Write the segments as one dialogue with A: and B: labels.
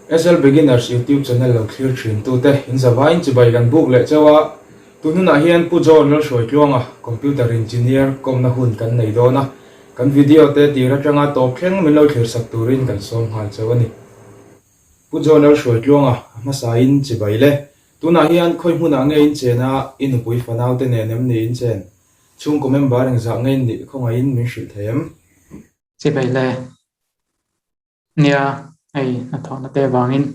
A: SL Beginners YouTube channel lo thlir thin tu te in zavaiin chibai kan buk leh cheu a, tu hnunah hian Pu John Lalhruai Tluanga Computer Engineer kawmna hun kan nei dawn a, kan video te tir atanga tawp thleng min lo thlir sak turin kan sawm nghal cheu a ni. Pu John Lalhruai Tluanga a hmasain chibai le, tunah hian khawi hmunah nge in chen a, i nupui fanau te nen em ni in chen? Chhungkaw member engzah ngein nih khawngaihin min hrilh thei em? Chibai
B: le. Nia, hei hnathawhna te vangin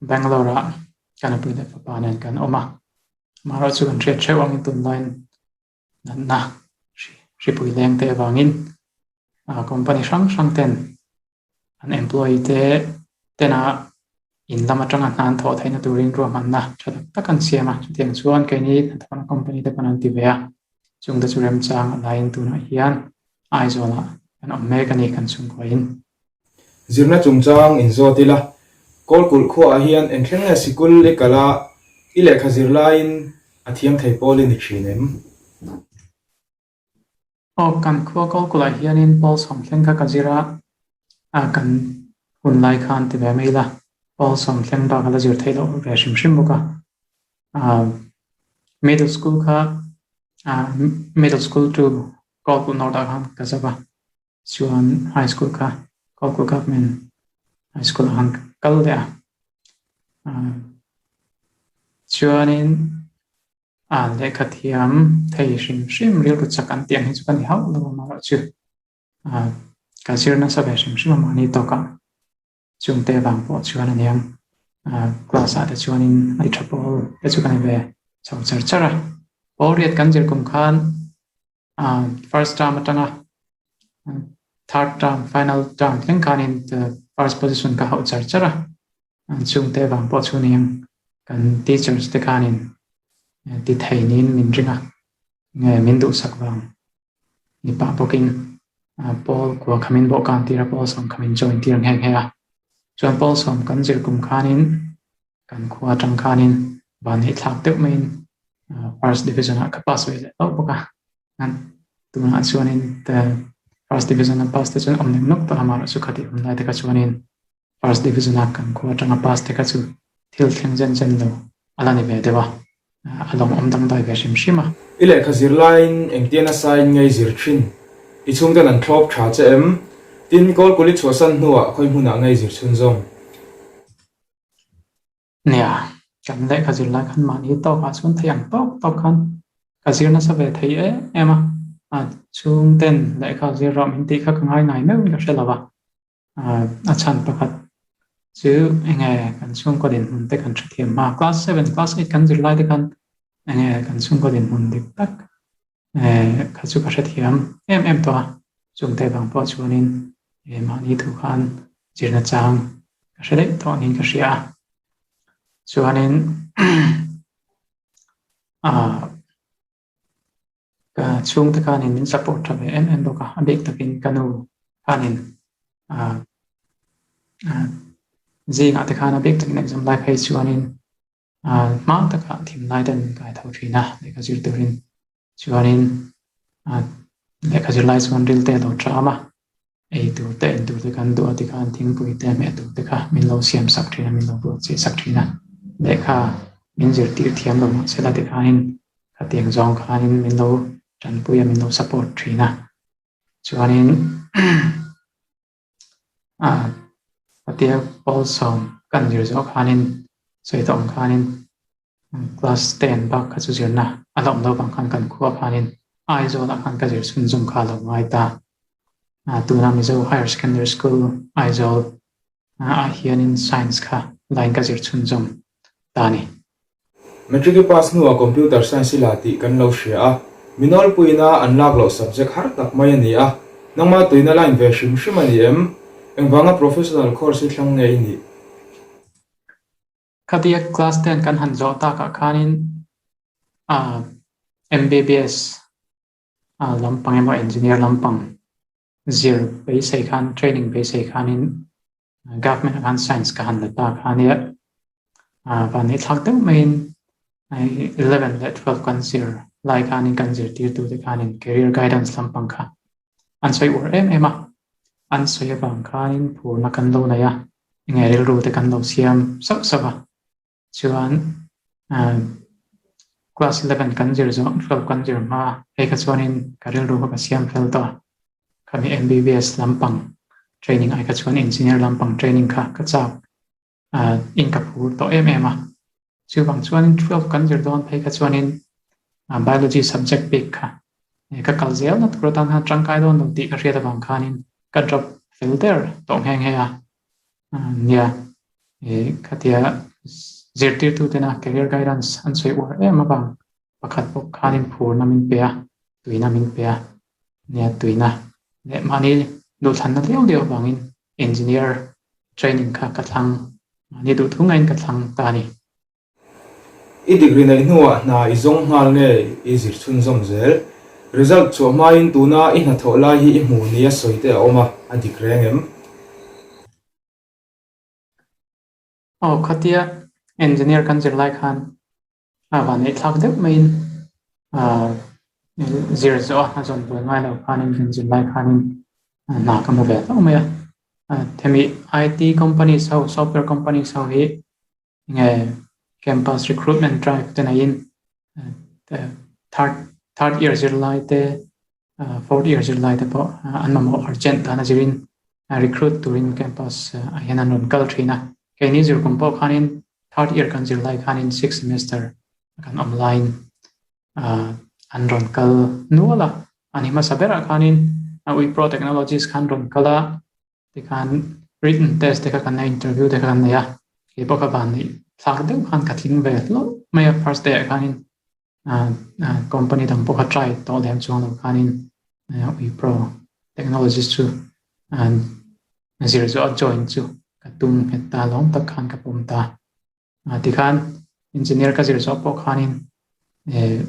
B: Bangalore-a ka nupui leh fapa nen kan awm a, amaherawh chu kan hriat hreuh ang, tunlaiin natna hripui leng te avangin company hrang hrang ten an employee te tena In lam atanga hnan thawh theihna turin ruahmanna tha tak tak an siam a, chutiang chuan kei ni hnathawhna company te pawn an ti ve a, chungte chu remchang laiin tunah hian Aizawlah kan awm mek a ni kan chhungkhuain. Zirna
A: chungchang in zawt ila, Kawlkulh khuaah hian eng thleng nge sikul i kal a, i lehkha zir laiin a thiang thei pawl i ni thin em?
B: Aw, kan khua kal kulh ah hianin Paul sawmthleng kha ka zir a, a kan hun lai kha an ti ve mai la, Paul sawmthleng bak a la zir theih loh ve hrim hrim bawk a. Aw, middle school kha, aw, middle school chu kal kulh north ah khan ka zak a, chuan high school kha kal kulh government high school ah khan ka kal leh a. Aw, chuanin A lehkha thiam thei hrim hrim rilru chak an tih ang hi chu ka ni hauh lo a amaherawh chu a ka zir nasa ve hrim hrim a mahni tawkah chung te vang pawh chuan aniang a class ah te chuan in ai tha pawl te chu ka ni ve chho char char a pawlriat kan zir kum khan umm first term atanga third term final term thleng khanin first position ka hauh char char a an chhungte avang pawh chu ning kan teachers te khanin ti thei niin min ring a nge min duhsak vang ni pah bawkin Paul kua khamin bo kan tira Paul sawm khamin join tir nghe nghe a chuan Paul sawm kan zir kum khanin Kan khua atang khanin van hi thlak deuh maiin First Division-ah ka pass ve leh loh bawk a. An, tunah chuanin First Division-a pass te chuan awmnem nawk tak a, mahlo chu khati awm lai te kha chuanin First Division-a kan khua atanga pass te kha chu thil thleng chen chen lo a la ni ve deuh a, a lawm awm dangdai ve hrim hrim a. I lehkha zir
A: laiin engtian a sign ngei zir thin? I chhungten an thlawp tha che em? Tin, Kawlkuli chhuahsan hnuah khawi hmunah ngei zir chhun zawng.
B: Nia, kan lehkha zir lai khan mahni tawkah chuan thei ang tawk tawk khan ka zir nasa ve thei em em a, a chhung ten lehkha zir rauh min tih kha ka ngai ngai meuhin ka hre lo a, a chhan pakhat chu enge kan chhungkaw dinhmun te kan hrethiam a, class seven, class eight kan zir lai te khan enge kan chhungkaw dinhmun dik tak Eeh, kha chu ka hrethiam em em tawh a, chungte bang pawh chuanin eeh mahni thu khan zirna chang ka hre daih tawh niin ka hria a. Chuanin aah ka chhungte khanin min support tha ve em em bawk a, a bik takin ka nu khanin aah zingah te khan a bik takin exam lai phei chuanin A hma takah thim lai ten ka haitho thin a, lehkha zir turin chuanin a lehkha zir lai chuan ril te a lo ṭam a, ei tur te in tur te kan duh a ti khan thingpui te hmeh tur te kha min lo siam sak thin a, min lo buat cheh sak thin a, lehkha min zirtir thiam lo mah se la ti khanin khatiang zawng khanin min lo ṭanpui a, min lo support thin a, chuanin. Ah, a tia Pawl sawm ka an zir zawh khanin sawi ta awm khanin class ten bak kha chu zirna a lawm lo bang khan kan khua khanin Aizawlah khan ka zir chhun zawm kha a lo ngai ta. Ah, tuna Mizo Higher Secondary School Aizawl ah hianin Science kha line ka zir chhun zawm ta ni.
A: Matric i pass hnuah Computer Science i la tih kan lo hria a, Minolpuina an lak loh subject har tak mai a ni a, nangma tuin a line ve hrim hrim a ni em? Engvanga professional course hi thlang nge i nih?
B: Ka biak class ten kan han zawh takah khanin ahh MBBS lampang emaw Engineer lampang Zir beisei khan training beisei khanin government a khan science ka han la ta khania van hi thlak deuh maiin eleven leh twelve kan zir lai khanin kan zirtirtu te khanin career guidance lampang kha an sawi ur em em a an sawi avang khanin phurna kan lo nei a enge rilru te kan lo siam sauh sauh a Chuan umm class eleven kan zir zawh twelve kan zir hma a hei kha chuanin ka rilru kha ka siam fel tawh a, khami MBBS lampang training ai kha chuan engineer lampang training kha ka chak umm in ka phur tawh em em a, chuvang chuanin twelve kan zir dawn phei kha chuanin umm biology subject pek kha ka kal zel na tur atan han tangkai dawn lo tih ka hriat avang khanin ka drop fel der tawh nghe nghe a. Nia, khatia zirtirtutena career guidance an sawi uar em avang pakhat bawk khanin phurna min pe a, tuina min pe a. Nia tuina leh mahni duhthlanna deuh deuh avangin engineer training kha ka thlang, mahni duh thungain ka thlang ta a ni.
A: I degree neih hnuah hna i zawng nghal nge i zir chhunzawm zel? Result chhuah hmaiin tuna i hnathawh lai hi i hmuh ni a sawi te a awm a, a dik reng em?
B: Aw, khatia engineer kan zir lai khan a vanei thlak deuh maiin i zir zawh a, a zawn bul ngai lo khan in kan zir lai khan in hna ka hmu ve tawh mai a. Hemi IT companies ho, software companies ho hi Enge campus recruitment drive te neiin third third year zirlai te fourth year zirlai te pawh an mamawh urgent dana zirin recruit turin campus a hian an rawn kal thin a keini zirkum pawh khanin third year kan zirlai khanin six semester kan awm laiin an rawn kal nual a ani hmasa berah khanin ui pro technologies khan rawn kal a Tikhan written test te kha kan nei a, interview te kha kan nei a, keipaw kha van nih thlak deuh khan ka tling ve hlauh mai a, first day ah khanin company dang pawh kha try tawh lem chuang lo khanin Wipro technologist chu zir zawha join chu ka tum nghet ta, lawm tak khan ka pawm ta. A ti khan engineer ka zir zawh pawh khanin eh,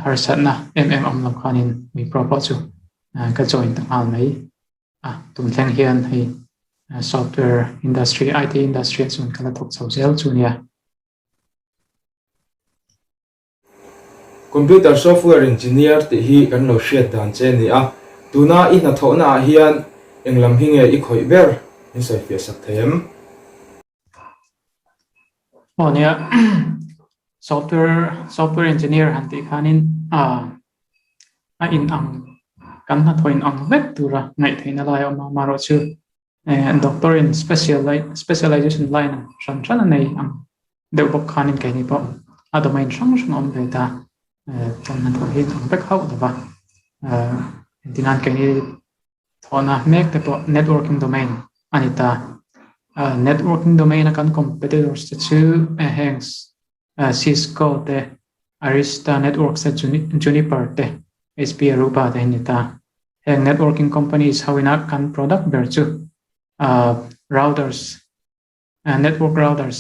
B: harsatna em em awm lo khanin Wipro pawh chu eh, ka join ta nghal mai. A tum thleng hian hei eh, software industry, IT industry a chuan ka la thawk chho zel chu nia.
A: Computer software engineer tih hi kan lo hriat dan che ni a, tuna i hnathawhna ah hian eng lam hi nge i khawih ber? Min sawifiah sak thei em?
B: Aw nia, software software engineer han tih khanin a in ang kan hnathawh in ang vek tura ngaih theihna lai a awm a, maherawh chu doctor in specialization line a hran hran a nei ang. Deuh bawk khanin keini pawh a domain hrang hrang a awm ve ta, chuan han thawh hi thang vek hauh lo va, engtin a keini thawhna mek te pawh networking domain a ni ta, networking domain a kan competitors te chu heng Cisco te, Arista Networks te, Juniper te, HP Aruba te an ni ta, heng networking companies ho ina kan product ber chu routers, Network routers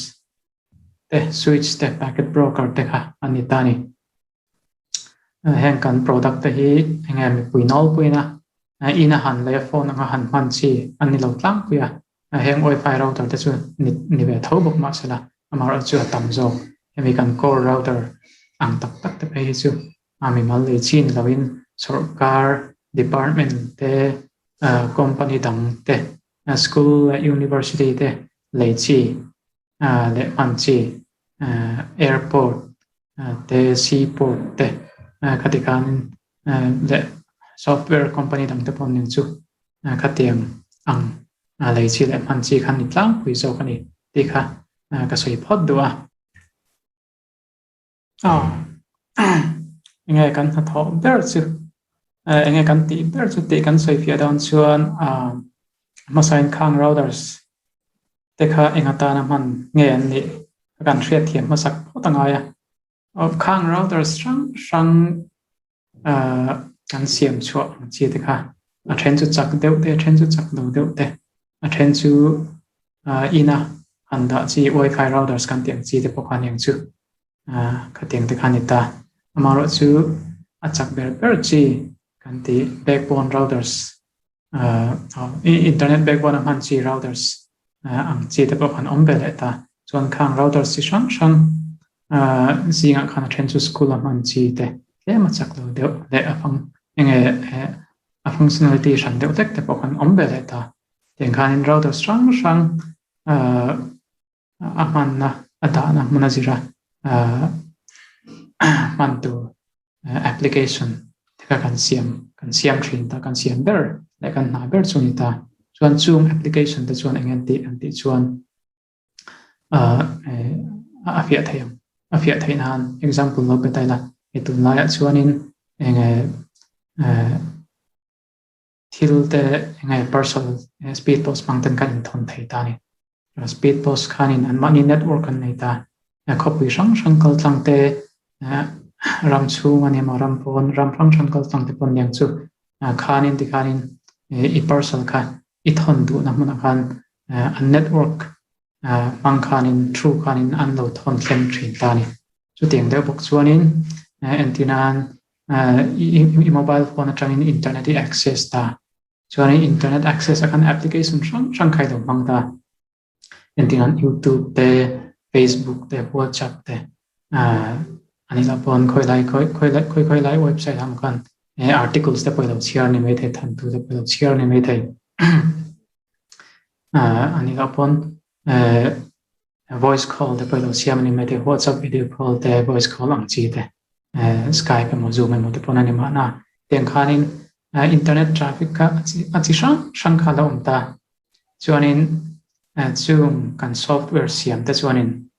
B: te switch te packet broker te kha a ni ta ni. Heng kan product te hi eng nge mipui nawl puina in a han leh a phone anga han hman chi a ni lo tlangpui a, heng wifi router te chu ni ve tho bawk mahsela amaherawhchu a tam zawk. Hemi kan core router ang tak tak te phei hi chu A mi mal leh chin loin sawrkar department te, company dang te, school leh university te lei chi leh hman chi, airport te, sea port te khati khan leh software company dang te pawh nen chu khatiang ang lei chi leh hman chi khan ni tlangpui zawk a ni tih kha ka sawi phawt duh a. Aw, enge kan hnathawh ber chu, enge kan tih ber chu tih kan sawi fiah dawn chuan hmasa in khang routers te kha enga tana hman nge an nih ka kan hriat thiam hmasak phawt angai a. Khang routers hrang hrang Kan siam chhuah hmachhia te kha a then chu chak deuh te, a then chu chak do deuh te, a then chu ina han dah chi Wifi routers kan tih ang chi te pawh kha ni ang chu, khatiang te kha a ni ta. Amaherawhchu a chak ber ber chi kan tih backbone routers Internet backbone a hman chi routers ang chi te pawh khan awm ve leh ta. Chuan khang routers chi hrang hrang zingah khan a then chu school a hman chi te tlema chak lo deuh leh a fang enge a functionality hran deuh vek te pawh khan awm ve leh ta. Tiang khanin routers hrang hrang. a hmanna a dahna hmuna zira hman tur application te kha kan siam kan siam thin ta kan siam ber leh kan hna ber chu a ni ta chuan chung application te chuan eng nge an tih chuan a fiah theih ang a fiah theih nan example lo pe ta ila hei tunlaiah chuanin eng nge thil te eng nge parcel e speed post hmang ten kan in thawn thei ta a ni a speed post khan in an mahni network an nei ta a khawpui hrang hrang kal tlang te ah ram chhung ani maw ram pawn ram hrang hrang kal tlang te pawn niang chu ah khan in ti khan in eh, i parcel kha i thawn duh na hmun ah khan eh, an network ah hmang khan in through khan in an lo thawn thleng thin ta a ni chutiang deuh bawk chuan in eh, engtin an I mobile phone atangin internet i access ta chuan i internet access a khan application hrang hrang kha i lo hmang ta. Engtin an youtube te, facebook te, whatsapp te an ila pawn khawi lai khawi khawi lai khawi khawi lai website ang khan articles te pawh i lo chhiar ni mai thei, than tur te pawh i lo chhiar ni mai thei. An ila pawn Voice call te pawh i lo siam a ni mai thei, WhatsApp video call te, voice call ang chi te, Skype emaw Zoom emaw te pawn a ni mahna, tiang khanin internet traffic kha a chi hrang hrang kha a lo awm ta. Chuanin chung kan software siam te chuanin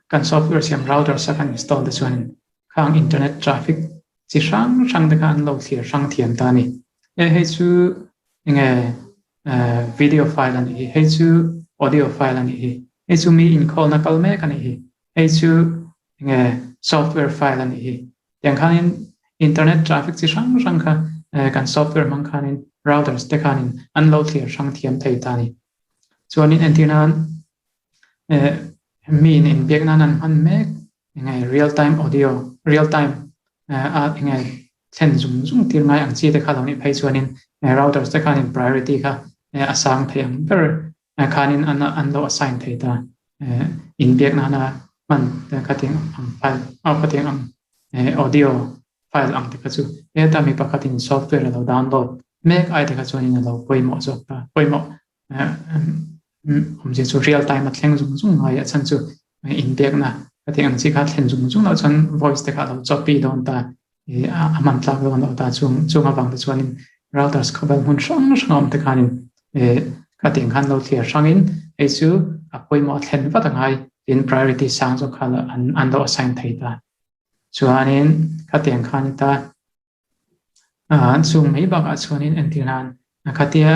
B: kan software siam routers a kan install te chuanin kha ang internet traffic chi hrang hrang te kha an lo thlir hrang thiam ta a ni. E hei chu enge Video file anih hi, hei chu audio file anih hi, hei chu mi inkhawlna kal mek anih hi, hei chu enge software file anih hi, tiang khanin internet traffic chi hrang hrang kha kan software hmang khanin routers te khanin an lo thlir hrang thiam thei ta a ni. Chuanin entirna eh mi in in biak nan an hman mek eng nge real time audio real time eh a eng nge thlen zum zum tir ngai ang chi te kha lo ni phei chuan in eh routers te khan in priority kha eh a sang thei ang ber eh khan in an an lo assign thei ta eh in biak nan a man te kha ting ang file a kha ting ang eh audio file ang te kha chu heta mi pakhat in software lo download mek ai te kha chuan in lo pawimawh zawk ta pawimawh awmzia chu real time a thleng zung zung a haiah chhan chu in biakna ka tih ang chi kha thlen zung zung loh chuan voice te kha a lo choppy dawn ta a man tlak dawn loh ta chung chunga bangte chuanin routers khawvel hmun hrang hranga awmte khanin ka tih ang khan lo thliar hrangin hei chu a pawimawh a thlen vat angai tin priority sang zawk kha an lo assign thei ta chuanin ka tih ang khan ta A an chhung mai bakah chuanin entirnan khatia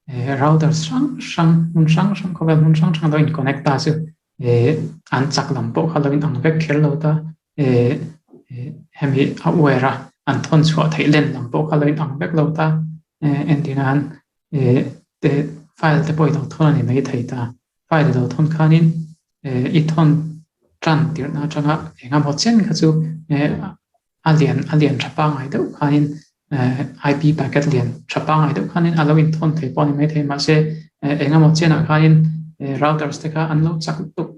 B: eh router hrang hrang hmun hrang hrang khawvel hmun hrang hrang dawn in connect a chu eh an chak lam pawh kha lo in ang vek kher lo ta eh hemi a wire a an thawn chhuah theih len lam pawh kha lo in ang vek lo ta eh entirnan eh te file te pawh i lo thawn a ni mai thei ta file i lo thawn khanin eh i thawn tan tirh na atanga engemaw chen kha chu eh a lian a lian tha pangngai deuh khanin eh IP packet lian tha pangngai deuh khanin a lo in thawn thei pawh a ni maithei mahse eh eng emaw chianah khanin eh routers te kha an lo chak tuk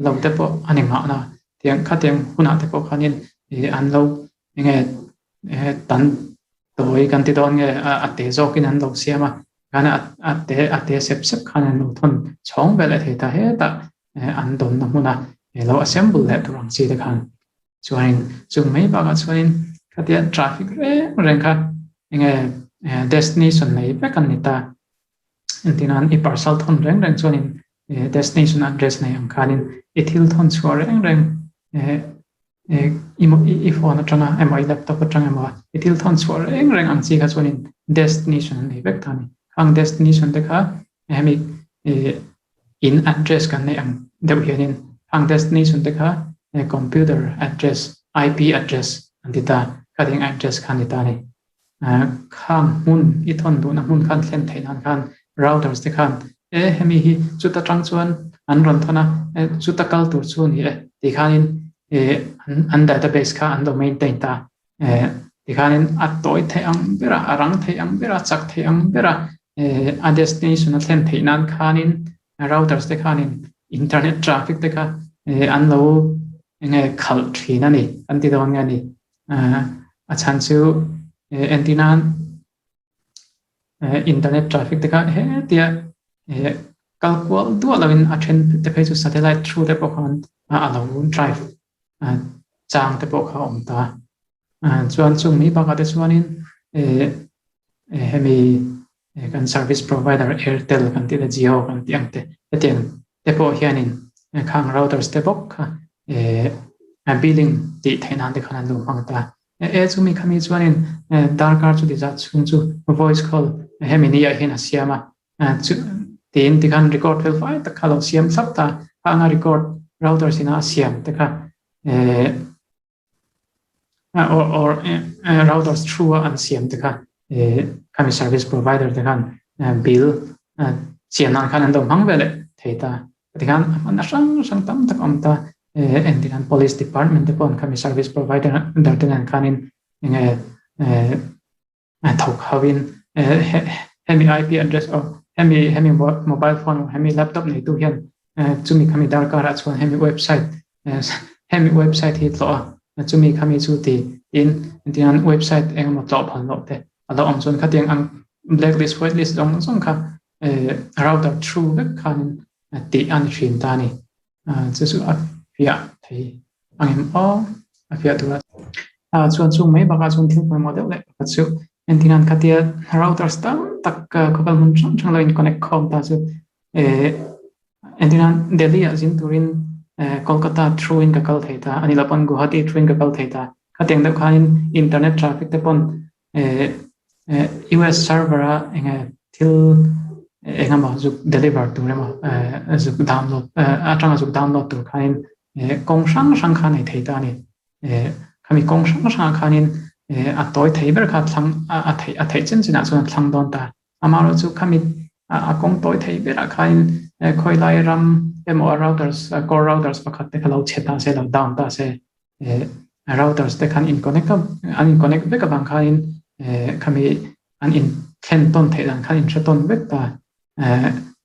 B: lo te pawh a ni nghah la tiang khatiang hunah te pawh khanin eh an lo enge eh tan tawi kan ti dawn nge a a teh zawkin an lo siam a kan a a teh a teh sep sep khan an lo thawn chhawng ve leh thei ta hetah eh an dawnna hmuna eh lo assemble leh tur ang chi te khan Chuanin chung mai bakah chuanin khatiang traffic reng reng kha enge Destiny sawn nei vek an ni ta. Entina i parcel thawn reng reng chuanin Destiny sawn address nei ang khanin i thil thawn chhuah reng reng i phone atanga emaw i laptop atang emaw i thil thawn chhuah reng reng ang chi kha chuanin Destiny sawn an nei vek ta a ni. Khang Destiny sawn te kha hemi in address kan nei ang deuh hianin hang destiny sun te kha computer address IP address an ti ta a khatih ang address kha a ni ta a ni khang hmun i thawn duhna hmun kha an thlen theih nan khan routers te khan e hemi hi chuta tang chuan an rawn thawn a chuta kal tur chu a ni e tih khanin an database kha an lo maintain ta eh tikhanin a tawi theih ang ber a a rang theih ang ber a a chak theih ang ber a eh a destination a thlen theih nan khanin routers te khanin internet traffic te kha eh an lo eng nge khalh thin a ni kan ti dawn nge ni eh a chhan chu eh entina eh internet traffic te kha he tia eh kalkual duah lovin a then te phei chu satellite through te pawh khan a lo drive chang te pawh kha a awm ta a, chuan chung mi bak ah te chuanin eh hemi kan service provider airtel kan tih te jio kan tih ang te hetiang te pawh hianin khang routers te bawk kha eh billing tih theih nan te khan an lo hmang ta e chu mi kha mi chuanin darkar chutiza chhung chu voice call hemi ni ah hian a siam a Tiin ti khan record fel fai tak kha lo siam thlap ta kha anga record router sina a siam te kha or routers through a an siam te kha khami service provider te khan bill siam nan khan an do hmang ve leh thei ta ti khan hman hrang hrang tam tak awm ta en ti khan police department te pawh khami service provider te nen khanin enge Thawk hauin hemi IP address aw, hemi hemi mobile phone aw, hemi laptop neitu hian chumi kha mi darkarah chuan hemi website hemi website hi tlawh a, chumi kha mi chu ti tiin tichuan website engemaw tlawh phan loh te a lo awm chuan khatiang ang blacklist whitelist zawng zawng kha router through vek khanin tih a ni hrin ta a ni. A chu chu a fiah thei ang em aw a fiah tura a chuan chung mai bakah chuan thil pawimawh deuh leh pakhat chu engtin a an khatia routers tam tak khawvel hmun hrang hrang lo in connect khawm ta chu eh engtin a delhi ah zin turin eh kolkata through in ka kal thei ta ani lo pawn guwahati through in ka kal thei ta khatiang deuh khanin internet traffic te pawn US server a eng nge thil eng emaw zuk deliver tur emaw zuk download atanga zuk download tur khanin kawng hrang hrang khan ei thei ta ani khami kawng hrang hrang khanin a tawi thei ber kha thlang a thei a thei chin chinah chuan thlang dawn ta Amaherawh chu kha mit a kawng tawi thei berah khain khawilai ram emaw routers, core routers pakhat te kha lo chhe ta se, lo down ta se, routers te khan inconnect a, an inconnect vek avang khain khami an inthlen tawn theih dan khan inhre tawn vek ta,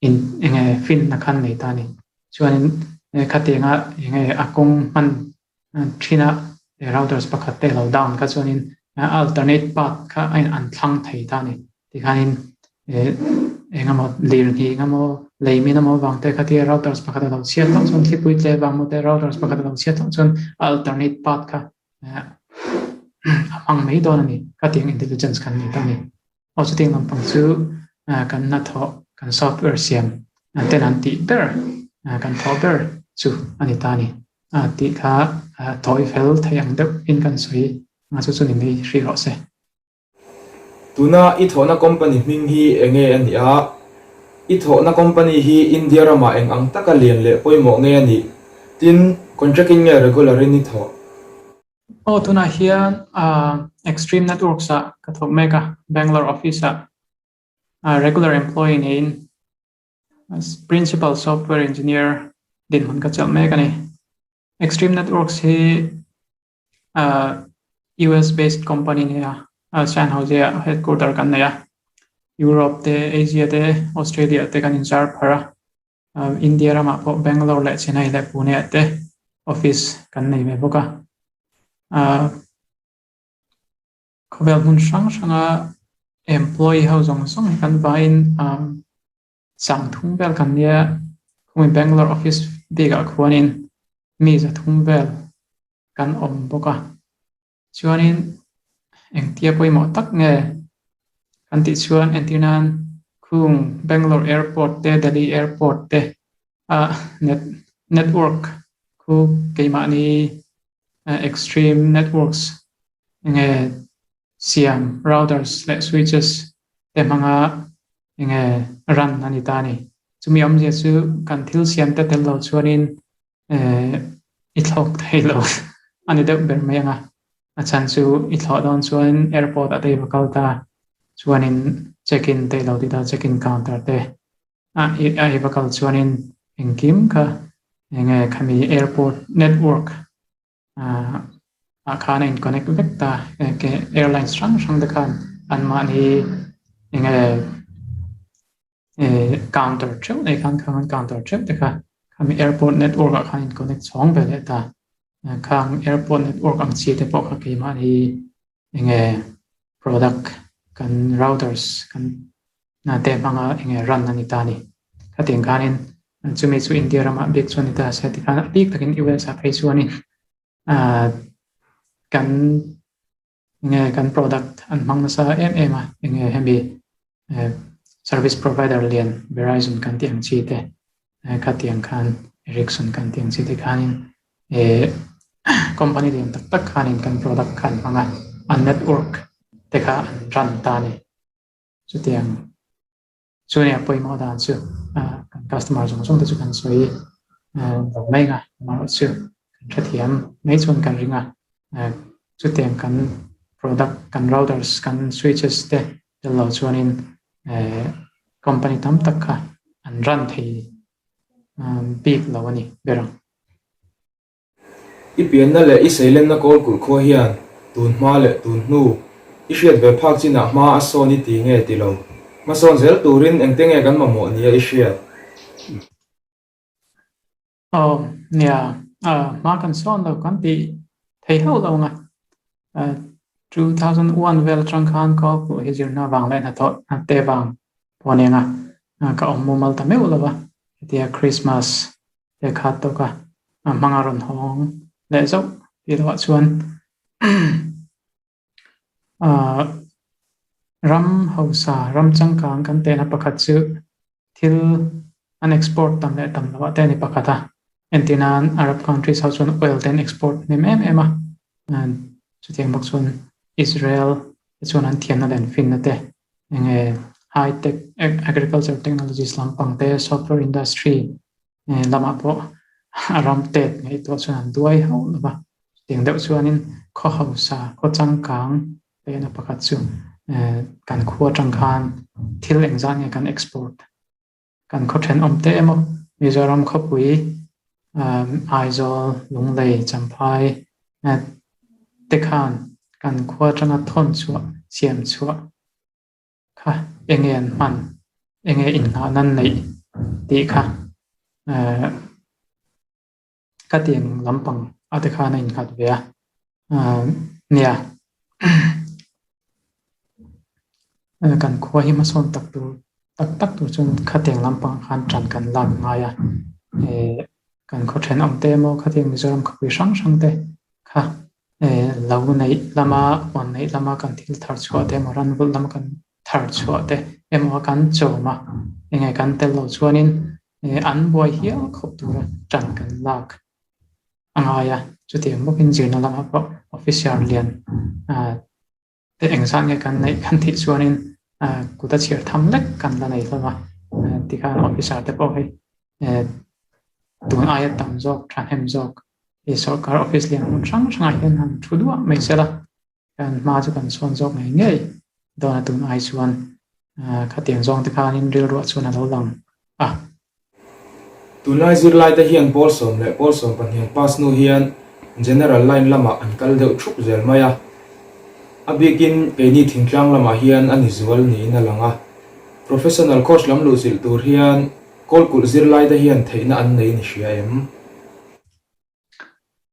B: in enge fin na khan nei ta a ni. Chuanin khatianga enge a kawng hman Chhina he routers pakhat te lo down kha chuanin alternate path kha a an thlang thei ta a ni. Tikhanin he engemaw lirnghih nga maw, lei mina maw vang te khatia routers pakhat a lo chhiat loh chuan thlipui tle vang maw te routers pakhat a lo chhiat loh chuan a alternate path kha a hmang mai dawn a ni. Khatiang intelligence kan ni ta a ni. Aw chutiang lampang chu kan na thawh kan south ber siam ten an tih ber kan thawh ber chu a ni ta ni tih kha thawi fel theih ang deuh in kan sawi a chu chu ni mai hri rawh se.
A: Tuna i thawhna company hming hi eng nge a nih a? I thawhna company hi India ramah eng ang taka lian leh pawimawh nge a nih? Tin, contract-in nge regular-in i thawh? Aw
B: tunah hian Extreme Networks a ka thawk mek a, Bangalore office a regular employee niin Principal Software Engineer dinhmun ka chelh mek a ni. Extreme Networks hi US based company ni a, San Jose a headquarter kan nei a, Europe te, Asia te, Australia te kan inzar phar a. Umm India ramah pawh Bangalore leh Chennai leh Pune ah te office kan nei ve bawk a. Umm khawvel hmun hrang hranga employee ho zawng zawng hi kan vaiin umm chang thum vel kan nia khawmui Bangalore office bikah khuanin mi za thum vel kan awm bawk a. Chuanin, engtia pawimawh tak nge? Kan tih chuan entir nan khung Bangalore Airport te Delhi Airport te a net network khu keimahni extreme networks enge siam routers leh switches te hmanga enge run a ni ta a ni. Chumi awmzia chu kan thil siamte tello chuanin Eh, i thlawk thei lo. A ni deuh ber mai anga. A chhan chu i thlawh dawn chuan airport a dei va kal ta chuanin check in te i lo ti ta, check in counter te a a ei va kal chuanin engkim kha enge khami airport network Ahh khan a in connect vek ta engke airlines hrang hrang te khan an mahni enge eh counter theuh nei khan khan counter theuh te kha khami airport network ah khan in connect chhawng ve leh ta khang airport network ang chi te pawh kha keimah hi Enge product kan routers kan te hmanga enge run a ni ta ni. Khatin khanin chumi chu India rama bik chu a ni ta se tikhan a bik takin i welsa phei chuanin kan enge kan product an hmang nasa em em a enge hemi service provider lian Verizon kan tih ang chi te khatiang khan Ericsson kan tih ang chi te khanin e company lian tak tak khanin kan product khan hmanga an network te kha an run ta ni chutiang chunia poimo dan chu kan customer zong zong te chu kan soi lo mai nga mar chu kan thathiam mai chun kan ringa chutiang kan product kan routers kan switches te Tel lo chuanin company tam tak kha an run thei bik lo a ni ber ang.
A: I pianna leh i seilenna kawl kulh khua hian tun hma leh tun hnu i hriat ve phak chinah hma a sawn i ti nge ti lo. Hmasawn zel turin engte nge kan mamawh nia i hriat? Aw
B: nia, ah, hma kan sawn lo kan tih thei hauh lo ang a. Ah, two thousand one vel atang khan ka awk pawh hi zirna avang leh hnathawh hnatte vang pawh a ni ang a. Ah, ka awm mumal ta meuh lo a, hetia Krismas te khat tawk a, ah, hmanga rawn hawng leh zauh tih loah chuan, umm. Ahh ram hausa ram changkang kan tehna pakhat chu thil an export tam leh tam lovah te a ni pakhat a, entir nan Arab countries ho chuan oil te an export hnem em em a, chutiang bawk chuan Israel te chuan an thianna leh an finna te enge high tech agriculture technologies lampang te software industry He lamah pawh a ram tet ngei tawh chuan an duai hauh lo va, chutiang deuh chuanin khaw hausa, khaw changkang te na pakhat chu kan khua tang khan thil engzah nge kan export kan khaw then awm te emaw, Mizoram khawpui, Aizawl, Lunglei, Champhai te khan kan khua tanga thawn chhuah, siam chhuah Kha, enge an hman, enge inhnah nan neih tih kha ka tiang lampang ate khan a innghat ve a, nia kan khua hi hmasawn tak tur tak tak tur chuan khatiang lampang khan tan kan lak ngai a, kan khawthen awmte emaw khatiang Mizoram khawpui hrang hrangte kha Lo neih hlama, huan neih hlama kan thil thar chhuah te emaw ran vulh lama kan thar chhuah te emaw a kan chawm a, eng nge kan tel lo chuanin an buai hial khawp tura tan kan lak a ngai a, chutiang bawkin zirna lamah pawh officer lian a. Te eng zat nge kan neih kan tih chuanin kut a chhiar tham lek kan la nei hlawm a, tikhan officer te pawh hei tun aia tam zawk, thahnem zawk hei sorkar office lian hmun hrang hrangah hian han thu duah mai se la, kan hma chu kan sawn zawk ngei ngei dawn a tun ai chuan khatiang zawng te khanin rilruah chuan a lo lang a,
A: Tunlai zirlaite hian Pawl Sawm leh Pawl Sawm pahnian Pasnu hian General line lamah an kal deuh thup zel mai a. A bikin keini thingtlang lamah hian a ni zual niin a lang a. Professional coach lam luhchilh tur hian Kawlkulh zirlaite hian theihna an nei ni hria em?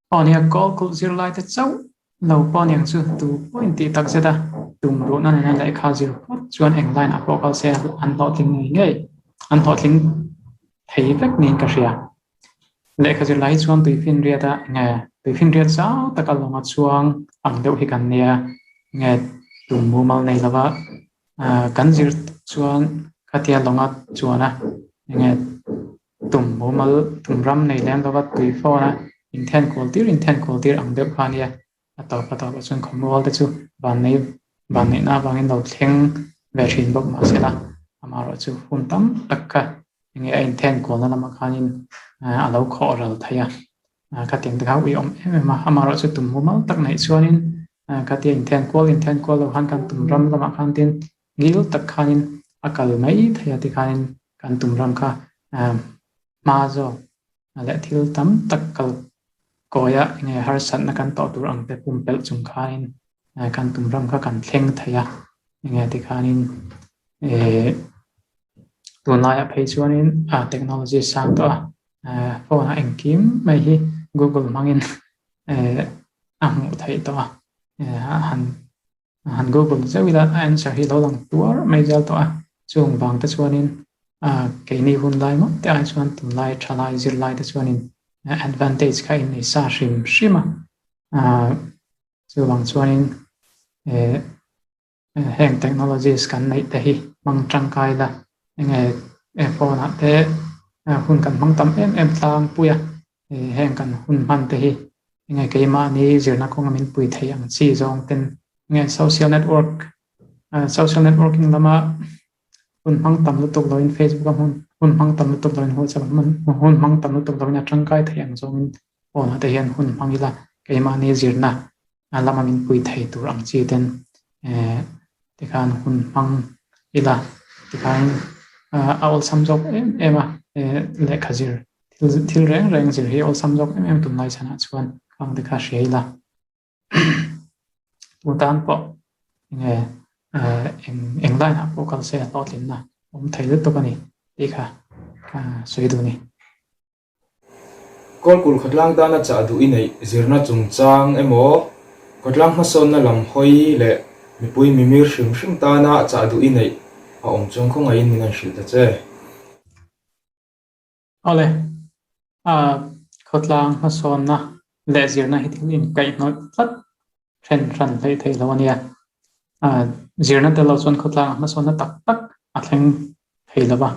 B: Pawniak kawl kulh zirlai te chauh lo pawniak chu tu pawh in tih takzet a, tum luhna nena lehkha zir phawt chuan eng line a pawh kal se a, an hlawhtling ngei ngei, an hlawhtling thei vek niin ka hria. Lehkha zirlai hi chuan tui finriat a nge tui finriat zau taka lawng a chuang ang deuh hi kan nia, nge tum mumal nei lova kan zir tak chuan khatia lawnga chuan a nge Tum mumal tum ram nei lem lova tui fawnah inthen kual tir inthen kual tir ang deuh kha nia a tawp a tawp a chuan khawmual te chu van nei van neihna avangin lo thleng ve thin bawk mahsela amaherawh chu hun tam tak kha enge a inthen kualna lama khanin a lo khawh ral thei a khatiang te kha a uiawm em em a amaherawh chu tum mumal tak neih chuanin khatia inthen kual inthen kual lo khan kan tum ram lamah khan tin-- Ngil tak khanin a kal mai thei a tikhanin kan tumram kha hma zawk leh thil tam tak kal kawiha enge harsatna kan tawh tur ang te pumpelh chung khanin kan tumram kha kan thleng thei a enge tikhanin tun laiah phei chuanin technology a sang tawh a phone a engkim mai hi Google hmangin a hmuh theih tawh a han Han Google zeuh ila a answer hi lo lang tuar mai vial tawh a, chung vang te chuanin ah keini hun lai mawi te ai chuan tum lai tha lai zir lai te chuanin advantage kha in nei sa hrim hrim a ah chu vang chuanin eh heng technologies kan neih te hi hmang tangkai ila enge phone ah te hun kan hmang tam em em tlang pui a heng kan hun hman te hi enge keimahni zirna kawnga min pui thei ang chi zawng ten nge social network ah social networking lama hun hmang tam lutuk loin facebook a hun hun hmang tam lutuk loin ho chawlh man hun hmang tam lutuk loin a tangkai thei ang zawngin pawnah te hian hun hmang ila keimahni zirna a lama min pui thei tur ang chi ten eh te khan hun hmang ila tikhain ah a awlsam zawk em em a eh lehkha zir thil thil reng reng zir hi awlsam zawk em em a tunlai chhan ah chuan khang te kha a hria ila tun tan pawh eng nge eh eng eng line ah pawh kal se a hlawhtlinna awm thei lutuk a ni tih kha ah sawi dun a ni.
A: Kawlpul khawtlang tana chah duh i neih zirna chungchang emaw, khawtlang hmasawnna lam hawi leh mipui mimir hrim hrim tana chah duh i neih a awm chuan khawngaihin min han hrilh ta che.
B: Awle, a khawtlang hmasawnna leh zirna hi thil inkaihhnawih tlat Then hran hlei theih lo a nia. A zirna tel lo chuan khawtlanga hmasawnna tak tak a thleng thei lo va,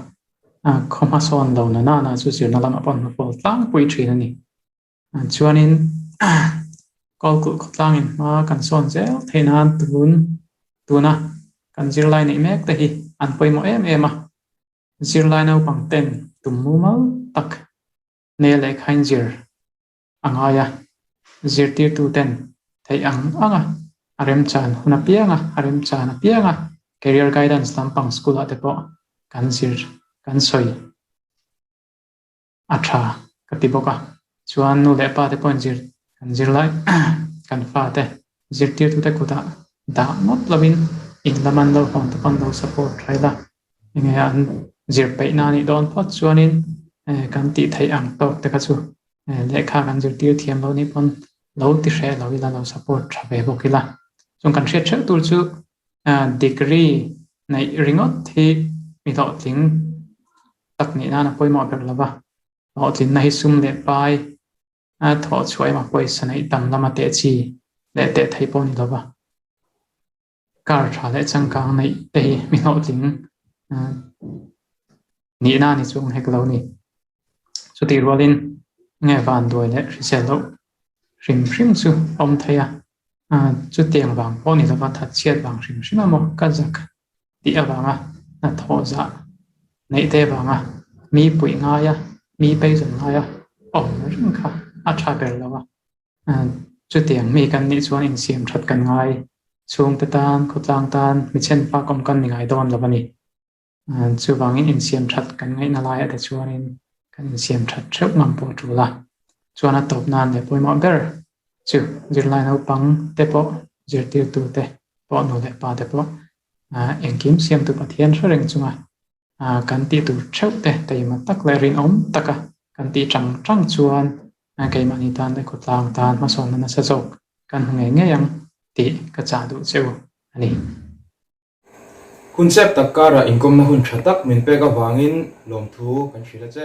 B: khaw hmasawn lo na nana chu zirna lam a pawnhna pawl tlangpui thin a ni. Chuanin kawl kulh khawtlang in hma kan sawn zel thei nan tun tuna kan zirlai neih mek te hi an pawimawh em em a, zirlai naupang ten tum mumal tak nei lehkhain zir a ngai a, zirtirtuten theih ang anga a remchan hun apianga a remchan apianga Career Guidance lampang school ah te pawh kan zir kan sawi a tha ka ti bawk a, chuan nu leh pa te pawhin zir kan zir lai kan fa te zirtirtute kutah dah ngawt lovin in lam an lo hawn te pawh an lo support tha ila enge an zir peihna a nih dawn phawt chuanin kan tih theih ang tawk te kha chu lehkha kan zirtir thiam loh ni pawn lo ti hreh lo ila lo support tha ve bawk ila chuan kan hriat hreuh tur chu degree neih ringawt hi mi hlawhtling tak nih nan a pawimawh ber lova hlawhtlinna hi sum leh pai a thawhchhuah em a pawisa neih tam lama tehchi leh tehthei pawh ni lova. Car tha leh changkang neih te hi mi hlawh tling nihna a ni chu a awm hek lo a ni. Chutih rualin nge vanduai leh hrisel loh hrim hrim chu a awm thei a, chutiang vang pawh a ni lova thatchhiat vang hrim hrim a maw ka zak tih avanga hnathawh zah neih te avanga mi puih ngaia mi peizawn ngaia a awm ring kha a tha ber lo a. Chutiang mi kan nih chuan insiam that kan ngai. Chhungte tan, khawtlang tan mi chhen fak awm kan ni ngai dawn lo a ni. Chuvangin insiam that kan ngaihna laia te chuanin kan insiam that theuh ngam pawh a tul a. Chuan a tawp nan leh pawimawh ber chu zirlai naupang te pawh, zirtirtute pawh nu leh pa te pawh engkim siamtu Pathian hre reng chunga A kan tih tur theuh te keima tak leh rinawm taka kan tih chang chang chuan keimahni tan e khawtlang tan hmasawmna nasa zawk kan hmu ngei ngei ang tih ka chah duh che u a ni.
A: Hun chep tak karah inkawmna hun tha tak min pek avangin lawmthu kan hrilh a che.